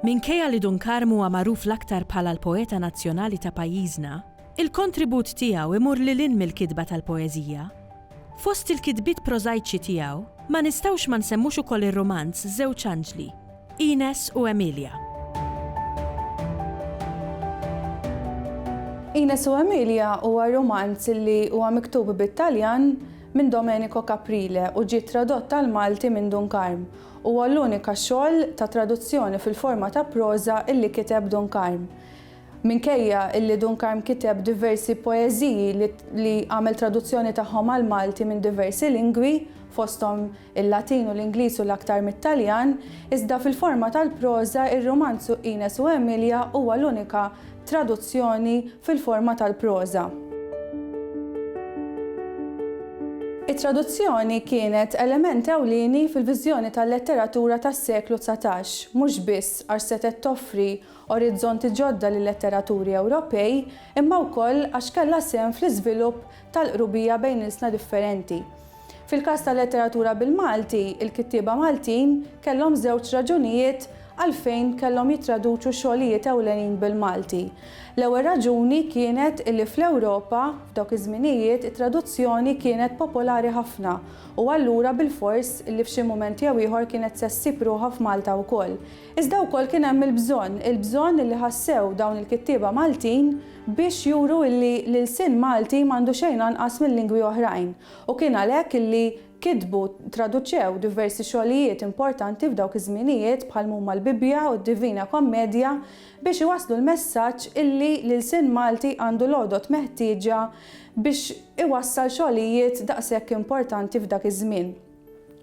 Minkejja li Dun Karm huwa magħruf l-aktar bħala l-poeta nazzjonali ta' pajjiżna, il-kontribut tiegħu jmur lil hinn mill-kitba tal-poeżija. Fost il-kitbiet prożajċi tiegħu, ma nistgħux ma nsemmux ukoll ir-rumanz Żewġ Anġli, Ines u Emilia. Ines u Emilia huwa rumanz li huwa miktub bit-Taljan minn Domenico Caprile u ġie tradott għall-Malti minn Dun Karm. Huwa l-unika xogħol ta' traduzzjoni fil-forma ta' proża illi kiteb Dun Karm. Minkejja illi Dun Karm kiteb diversi poeżiji li għamel traduzzjoni tagħhom għall-Malti minn diversi lingwi, fosthom il-Latin u l-Ingliż u l-aktar mit-Taljan, iżda fil-forma tal-proża ir-rumanzu Ines u Emilia huwa l-unika traduzzjoni fil-forma tal-proża. It-traduzzjoni kienet element ewlieni fil-viżjoni tal-letteratura tas-seklu dsatax, mhux biss għax setgħet toffri orizzonti ġodda lil-letteraturi Ewropej, imma wkoll għax kellha sehem fl-iżvilupp tal-qrubija bejn ilsna differenti. Fil-każ tal-letteratura bil-Malti, il-kittieba Maltin kellhom żewġ raġunijiet għalfejn kellhom jittraduċu xogħlijiet ewlenin bil-Malti. L-ewwel raġuni kienet illi fl-Ewropa, f'dawk iż-żminijiet, it-traduzzjoni kienet popolari ħafna u allura bilfors illi f'xi mument jew ieħor kienet se ssib ruħha f'Malta wkoll. Iżda wkoll kien hemm il-bżonn, il-bżonn li ħassew dawn il-kittieba Maltin biex juru illi l-ilsien Malti m'għandu xejn anqas minn lingwi oħrajn u kien għalhekk illi kitbu, traduċew diversi xogħlijiet importanti f'dawk iż-żminijiet bħal m'huma l-Bibbja u d-Divina Kommedja biex iwasslu l-messaġġ illi l-ilsien Malti għandu l-għodod meħtieġa biex iwassal xogħlijiet daqshekk importanti f'dak iż-żmien.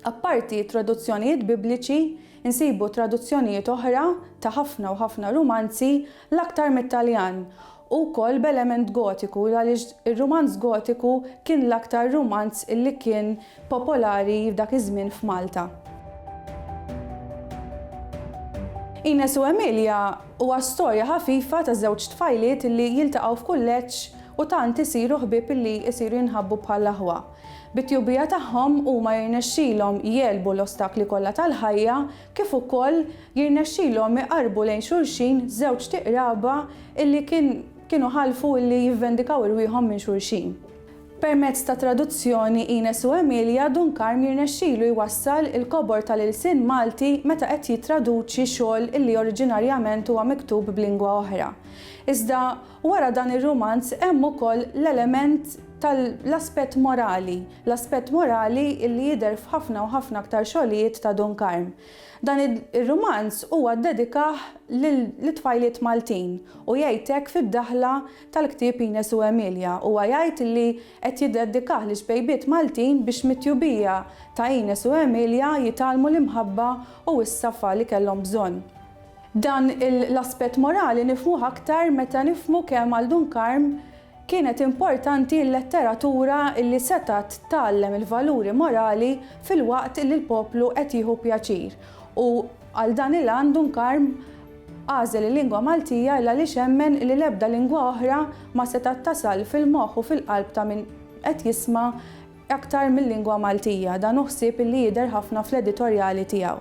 Apparti t-traduzzjonijiet Bibliċi, insibu traduzzjonijiet oħra ta' ħafna u ħafna rumanzi, l-aktar mit-Taljan, u wkoll b'element Gotiku għaliex ir-rumanz Gotiku kien l-aktar rumanz li kien popolari f'dak iż-żmien f'Malta. Ines u Emilia huwa storja ħafifa ta' żewġ tfajliet li jiltaqgħu f'kulleġġ u tant isiru ħbieb li jsiru jinħabbu bħall-aħwa. Bit-tjubija tagħhom huma jirnexxilhom jegħlbu l-ostakli kollha tal-ħajja kif ukoll jirnexxilhom iqarrbu lejn xulxin żewġt iqraba illi kien kienu ħalfu illi jivvendikaw irwieħhom minn xulxin. Permezz ta' traduzzjoni Ines u Emilia, Dun Karm jirnexxilu jwassal il-kobor tal-ilsien Malti meta qed jittraduċi xogħol illi oriġinarjament huwa miktub b'lingwa oħra. Iżda Wara dan ir-rumanz hemm ukoll l-element tal-aspett morali, l-aspett morali li jidher f'ħafna u ħafna aktar xogħlijiet ta' Dun Karm. Dan ir-rumanz huwa ddedikah lit-tfajliet Maltin u jgħid hekk fid-daħla tal-ktieb Ines u Emilia. Huwa jgħid li qed jiddedikah liċ-ċbejbiet Maltin biex mit-tjubija ta' Ines u Emilia jitgħallmu l-imħabba u s-safa li kellhom bżonn. Dan l-aspett morali nifhmuh aktar meta nifhmu kemm għal Dun Karm kienet importanti l-letteratura li setgħet tgħallem il-valuri morali filwaqt li l-poplu qed jieħu pjaċir u għal dan il-għan Dun Karm għażel il-lingwa Maltija l-għaliex emmen li l-ebda lingwa oħra ma setgħet tasal fil-moħħ u fil-qalb ta' min qed jisma' aktar mil-lingwa Maltija. Dan hu ħsieb li jidher ħafna fl-editorjali tiegħu.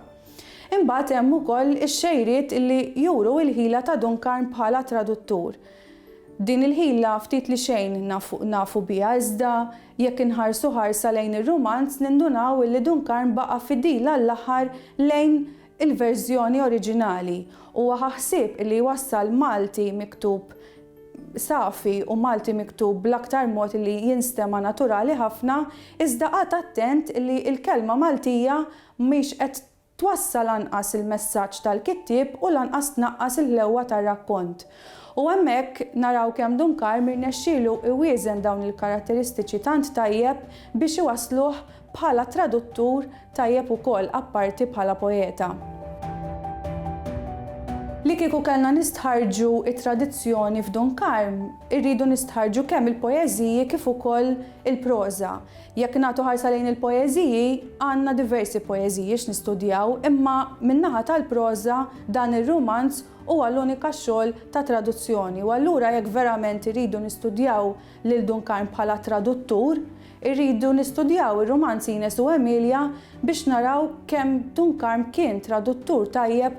Imbagħad hemm ukoll ix-xejriet li juru l-ħila ta' Duncan bħala traduttur. Din il-ħila ftit li xejn nafu biha iżda jekk inħarsu ħarsa lejn ir-rumanz nindunaw illi Duncan baqa' fidil għall-aħħar lejn il-verżjoni oriġinali. Huwa ħa ħsieb illi jwassal Malti miktub safi u Malti miktub bl-aktar mod illi jinstema' naturali ħafna iżda qagħad attent illi l-kelma Maltija mhix qed twassal anqas il-messaġġ tal-kittieb u lanqas tnaqqas il-ħlewwa tar-rakkont. U hemmhekk naraw kemm Dunkar m'irnexxielu iwieżen dawn il-karatteristiċi tant tajjeb biex iwassluh bħala traduttur tajjeb ukoll apparti bħala poeta. Li kieku kellna nistħarrġu t-tradizzjoni f'Dunkarm, irridu nistħarrġu kemm il-poeżiji kif ukoll il-proża. Jekk nagħtu ħarsa lejn il-poeżiji, għandna diversi poeżiji x'nistudjaw imma min-naħa tal-proża dan ir-rumanz huwa l-unika xogħol ta' traduzzjoni u allura jekk verament irridu nistudjaw lil Dun Karm bħala traduttur, irridu nistudjaw ir-rumanz Ines u Emilia biex naraw kemm Dun Karm kien traduttur tajjeb